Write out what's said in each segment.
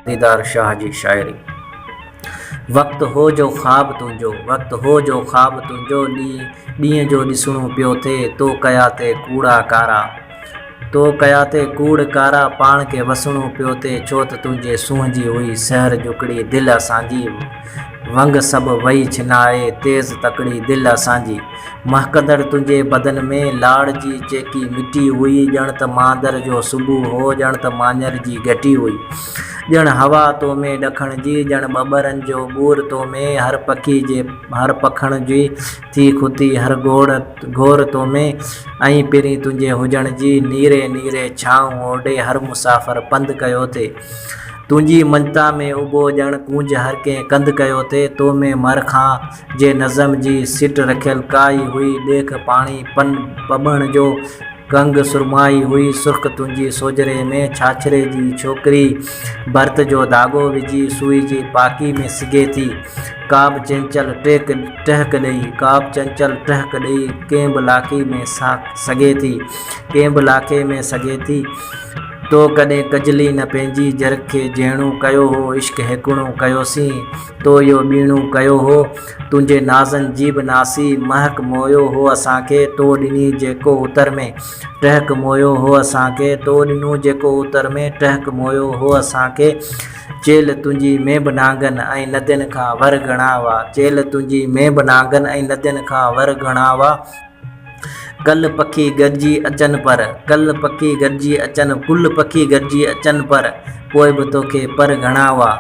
ديدار شاهه جي شاعري. وقت هو جو خواب تنهنجو وقت هو جو خواب تنهنجو ڏينهن جو ڏسڻو پيو ٿئي تو ڪيا تي ڪوڙا ڪارا تو ڪيا تي ڪوڙ ڪارا پاڻ کي وسڻو پيو ٿئي ڇوته تنهنجي سونهن جي هئي سحر جڪڙي دل اسان جي ونگ سڀ وئي ڇنائي، تيز تڪڙي دل اسان جي. مهڪندڙ تنهنجي بدن ۾، لاڙ جي چيڪي مٽي هئي. ڄڻ ته ماندر جو صبح هو، ڄڻ ته ماڃر جي گهٽي هئي. ڄڻ هوا تو ۾ ڏکڻ جي، ڄڻ ٻٻرن جو ٻور تو ۾، هر پکي جي هر پکڻ جي ٿي کتي، هر گهوڙ گهور تو ۾، ۽ پرين تنهنجي هجڻ جي نيري نيري ڇانو اوڍي هر مسافر پنڌ ڪيو ٿي. تنهنجي مڃتا ۾ اڀو ڄڻ ڪونج هر ڪنهن ڪنڌ ڪيو ٿي. تو ۾ مر کان جي نظم جي سٽ رکيل ڪائي هئي ڏيک پاڻي پن پٻڻ جو ڪنگ سرمائي هئي سرخ تنهنجي سوجهري ۾ ڇاڇري جي ڇوڪري ڀرت جو ڌاڳو وجهي سوئي جي پاڪي ۾ سگهي ٿي ڪابه چنچل ٽهڪ ٽهڪ ڏئي ڪابه چنچل ٽهڪ ڏئي ڪنهن به لاکي ۾ سگهي ٿي ڪنهن به لاکي ۾ سگهي ٿي. تو ڪڏهن ڪجلي نه پنهنجي جرکي جهيڻو ڪيو هو عشق هيڪوڻو ڪيوسين تو اهو ٻيڻو ڪيو هو تنهنجي نازن جي به ناسي مهڪ موهيو هو اسان کي تو ڏني جيڪو اتر ۾ ٽهڪ موهيو هو اسان کي تو ڏنو جيڪو اتر ۾ ٽهڪ موهيو هو اسان کي چيلهه تنهنجي ۾ به نانگن ۽ ندين کان ور گهڻا هئا چيلهه تنهنجي ۾ به نانگن ۽ ندين کان ور گهڻا هئا. گل پکي گڏجي اچن پر، گل پکي گڏجي اچن، گل پکي گڏجي اچن پر، پوء به توکي پر گهڻا هئا.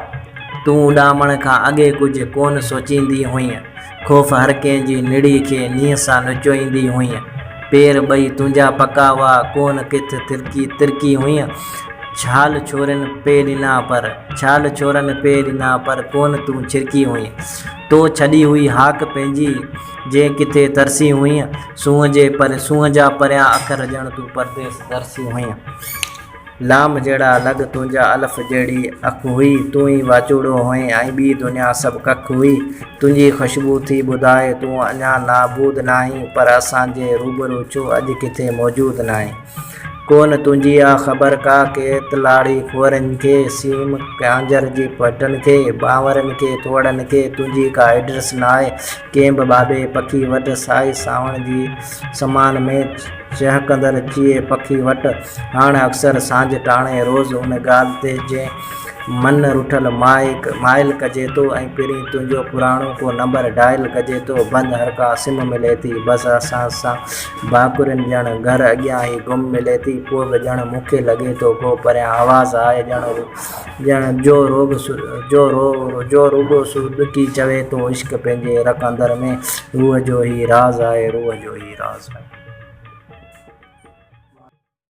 تون اڏامڻ کان اڳي ڪجهه ڪونه سوچيندي هئينء. خوف هر ڪنهن جي نڙي کي نينهن سان نچوئيندي هئينء. پير ٻئي تنهنجا پڪا هئا، ڪونه ڪٿ ٿرڪي ترڪي هئينء. ڇال ڇورين پي ڏنا پر، ڇال ڇورين پي ڏنا پر، ڪونه تون ڇرڪي هئينء. تو ڇڏي هئي هاڪ پنهنجي، جي ڪٿي ترسي هئين. سونهن جي پر سونهن جا پريان اکر ڄڻ تون پرديس ترسي هئين. لام جهڙا لڳ تنهنجا الف جهڙي اک هئي. تون ئي واچوڙو هئين ۽ ٻي دنيا سڀ ڪک هئي. تنهنجي خوشبو ٿي ٻڌائي تون اڃا نابود ناهين پر اسان جي روبرو ڇو اڄ ڪٿي موجود ناهين. ڪونه تنهنجي آ خبر ڪا ڪيت لاڙي ڦورن کي، سيم ڪانجر جي پٽن کي، ٻانورن کي ٿوڙن کي تنهنجي ڪا ايڊريس ناهي، ڪنهن به ٻاٻي پکي وٽ سائي سانوڻ جي سمان ۾ چهڪندڙ چيئي پکي وٽ هاڻ اڪثر سانجهه ٽاڻي روز ان ڳالهه تي جنهن من رٺل مائل ڪجي ٿو ۽ پرين تنهنجو پراڻو ڪو نمبر ڊائل ڪجي ٿو بند هرڪا سم ملي ٿي بس اسان سان ڀاڪرين ڄڻ گهر اڳيان ئي گم ملي ٿي، پوء به ڄڻ مون کي لڳي ٿو ڪو پريان آواز آهي، ڄڻ جو جو روڳو سور ڏکي چوي ٿو، عشق پنهنجي رڪ اندر ۾، روح جو هي راز آهي، روح جو هي راز آهي.